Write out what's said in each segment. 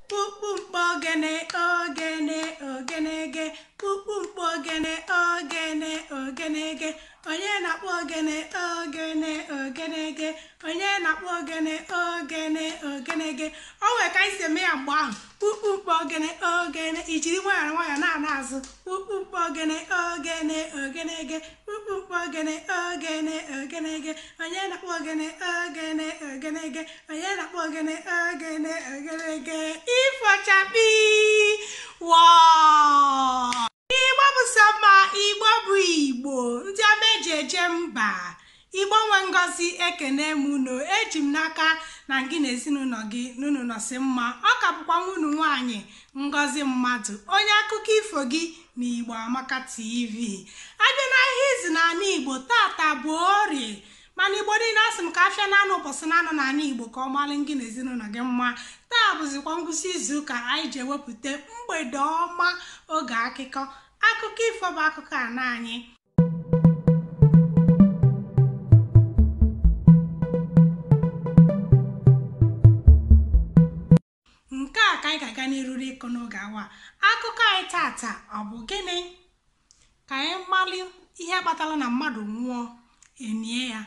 kpukpu mkpọ ogene ogene ogenege kpukpu mkpọ ogene ogene ogenege onye na-akpọ ogene ogene ogenege onye na-akpọ ogene ogene ogenege o nwere ka anyị si eme ya mgbe ahụ kpukpu mkpọ ogene ogene i jiri nwayọọ nwayọọ na-ana azụ kpukpu mkpọ ogene ogene ogenege kpukpu mkpọ ogene ogene ogene ge onye na-akpọ ogene ogene ogene ge onye na-akpọ ogene ogene ogene ge ifo chakpii wọọ igbo bụ sọ mma igbo bụ igbo ndị ọma eji eje mba igbo nwe ngozi ekene m unu eji m n'aka na gị na ezinụnọ gị na unu nọsị mma ọ ka bụkwa nwa unu nwaanyị ngozi mmadụ onye akụkọ ifo gị n'Igbo Amaka TV a bịa na ahịa izu na ana Igbo tata bụ orie mana igbo niile asị m ka afịa naanọ ụbọsị naanọ na anị igbo ka ọ malụ gị na ezinụnọ gị mma taa bụzikwa ngwụsị izu ụka anyị ji ewepụta mgbede ọma oge akụkọ akụkọ ifo bụ akụkọ ana anyị Nke a ka anyị ga-aga n'iru n'ịkọ n'oge awa a. Akụkọ anyị tata ọ bụ gịnị? Ka anyị malị ihe kpatalụ na mmadụ nwụọ enie ya.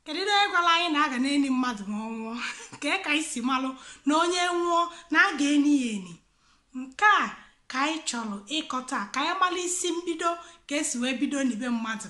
Kedu onye gwalụ anyị na a ga na-eni mmadụ ma ọ nwụọ? Kee ka anyị si malụ na onye nwụọ na a ga-eni ya eni? Nke a ka anyị chọlụ ịkọ taa ka anyị malị isi mbido ka esi wee bido nibe mmadụ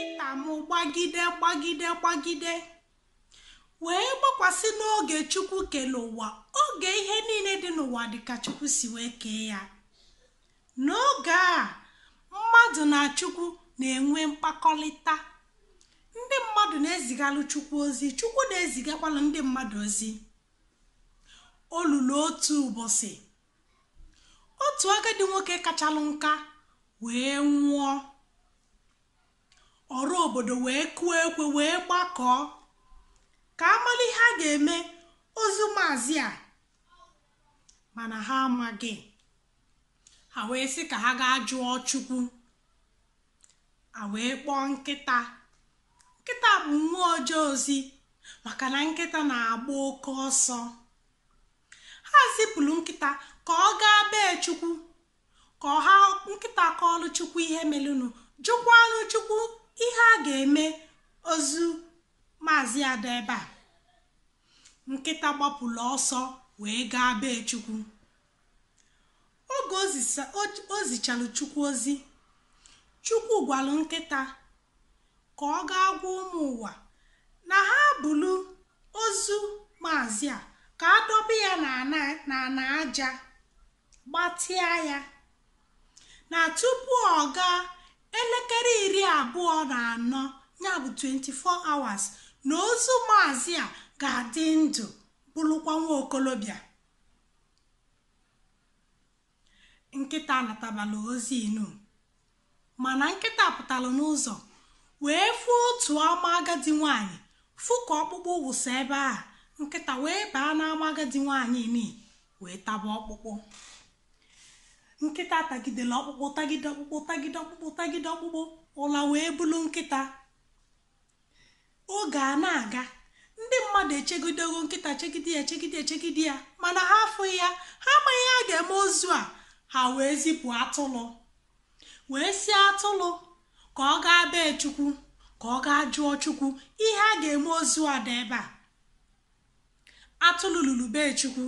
ita m gbagide gbagide gbagide wee gbakwasị n'oge chukwu kelu ụwa oge ihe niile dị n'ụwa dịka chukwu si wee kee ya n'oge a mmadụ na chukwu na-enwe mkpakọlịta ndị mmadụ na-ezigalụ chukwu ozi chukwu na-ezigakwalụ ndị mmadụ ozi o lulu otu ụbọsị otu agadi nwoke kachalụ nka wee nwụọ ọra obodo wee kụọ ekwe wee gbakọọ ka a malụ ihe a ga-eme ozu maazị a mana ha amaghị ha wee sị ka ha gaa jụọ chukwu ha wee kpọọ nkịta nkịta bụ nwa oje ozi maka na nkịta na-agba oke ọsọ Ha zipụlụ nkịta ka ọ gaa be Chukwu ka nkịta kọọlụ Chukwu ihe melụnụ, jụkwaalụ Chukwu ihe a ga-eme ozu maazị a dọ ebe a. Nkịta gbapụlụ ọsọ wee gaa be Chukwu Oge o zisa- o- o zichalụ Chukwu ozi, Chukwu gwalụ nkịta ka ọ gaa gwa ụmụ ụwa na ha bulu ozu maazị a ka a dọba ya n'ana n'ana aja gbatịa ya na tupu ọ gaa elekere iri abụọ na anọ ya bụ 24 hours na ozu maazị a ga-adị ndụ bụlụkwa nwa okolobịa nkịta natabala ozi inu mana nkịta pụtalụ n'ụzọ wee fụ otu ama agadi nwaanyị fụ ka ọkpụkpụ wụsa ebe a nkịta wee baa n'ama agadi nwaanyị ni wee taba ọkpụkpụ nkịta tagidelụ ọkpụkpụ tagide ọkpụkpụ tagide ọkpụkpụ tagide ọkpụkpụ ụla wee bulu nkịta oge a na-aga ndị mmadụ echegidego nkịta chegide ya chegide ya chegide ya mana ha afụghị ya ha amaghị ihe a ga-eme ozu a ha wee zipụ atụlụ wee sị atụlụ ka ọ gaa be chukwu ka ọ gaa jụọ chukwu ihe a ga-eme ozu a dị ebe a atụlụ lulu be chukwu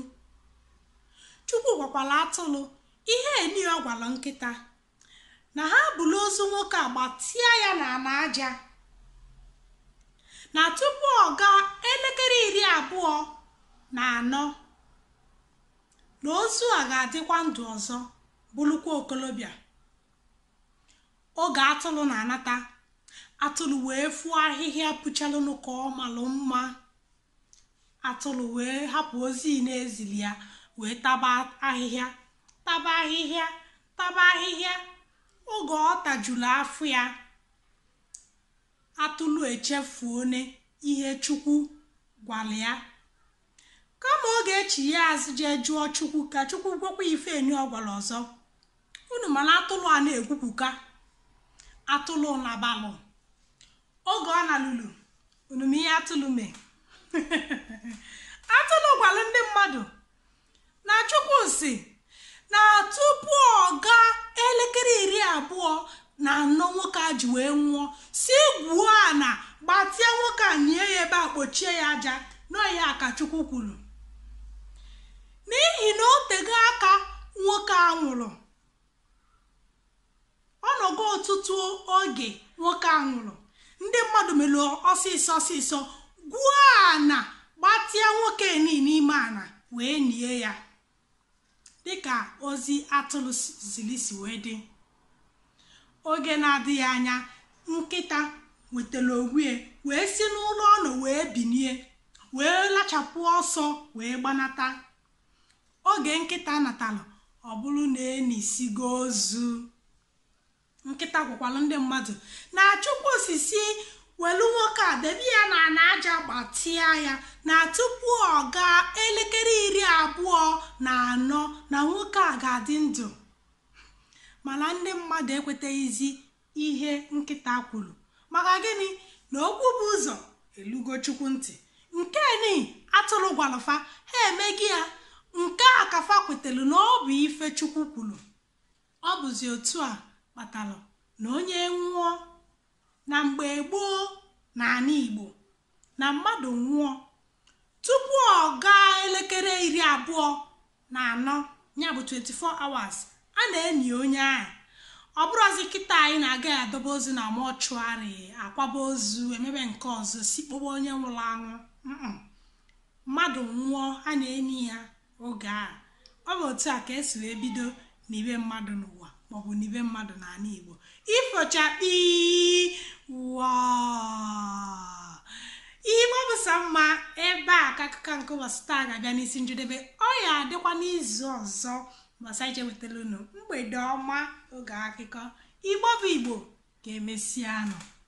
chukwu gwakwalụ atụlụ ihe enyi ọ gwalụ nkịta na ha bulu ozu nwoke a gbatịa ya n'ana aja na tupu ọ gaa elekere iri abụọ na anọ na ozu a ga-adịkwa ndụ ọzọ bụlụkwa okolobịa oge atụlụ na-anata atụlụ wee fụọ ahịhịa pụchalụnụ ka ọ malụ mma atụlụ wee hapụ ozi ni e zili ya wee taba ahịhịa taba ahịhịa taba ahịhịa oge ọ tajulu afọ ya atụlụ echefuone ihe chukwu gwalụ ya kama ọ ga-echigha azụ jee jụọ chukwu ka chukwu gwakwa ife enyi ọ gwalụ ọzọ unu ma na atụlụ a na-ekwupụka atụlụ nabalụ oge ọ nalulu unu ma ihe atụlụ mee atụlụ gwalụ ndị mmadụ na chukwu sị na tupu ọ gaa elekere iri abụọ na anọ nwoke a ji wee nwụọ sị gwuo ana gbatịa nwoke a nie ya ebe a kpochie ya aja na ọ ya ka chukwu kwuru n'ihi na o tego aka nwoke a nwụrụ ọ nọgo ọtụtụ oge nwoke a nwụrụ ndị mmadụ mere ọsịsọ ọsịsọ gwuo ana gbatịa nwoke ni n'ime ana wee nie ya dịka ozi atụlụ zili si wee dị oge na-adịghị anya nkịta nwetara onwe ya wee si n'ụla ọ nọ wee binie wee lachapụ ọsọ wee gbanata oge nkịta natalụ ọ bụrụ na e nisigo ozu nkịta gwakwalụ ndị mmadụ na chukwu sị sị welu nwoke a debe ya na ana aja gbatịa ya na tupu ọ gaa elekere iri abụọ na anọ na nwoke a ga-adị ndụ mana ndị mmadụ ekweteghịzi ihe nkịta kwuru maka gịnị na okwu bu ụzọ elugo chukwu ntị nke ni atụrụ gwalụ fa ha emego ya nke a ka fa kwetara na ọ bụ ife chukwu kwuru ọ bụzi otu a kpatara na onye nwụọ na mgbe gboo na ala igbo na mmadụ nwụọ tupu ọ gaa elekere iri abụọ na anọ ya bụ 24 hours a na-eni onye ahụ ọ bụrụzi kịta anyị na-aga edobe ozu na mortuary akwaba ozu emebe nke ọzọ si kpọwa onye nwụrụ anwụ mmadụ nwụọ a na-eni ya oge a. Ọ bụ otu a ka e si wee bido nibe mmadụ n'ụwa maọbụ nibe mmadụ n'ala Igbo. Ifo chakpii wọọ Igbo bụ sọ mma ebe a ka akụkọ nke ụbọchị taa ga-abịa n'isi njedebe ọ ya-adịkwa n'izu ọzọ mbọsị anyị ga-ewetara unu mgbede ọma oge akụkọ Igbo bụ Igbo ka emesianụ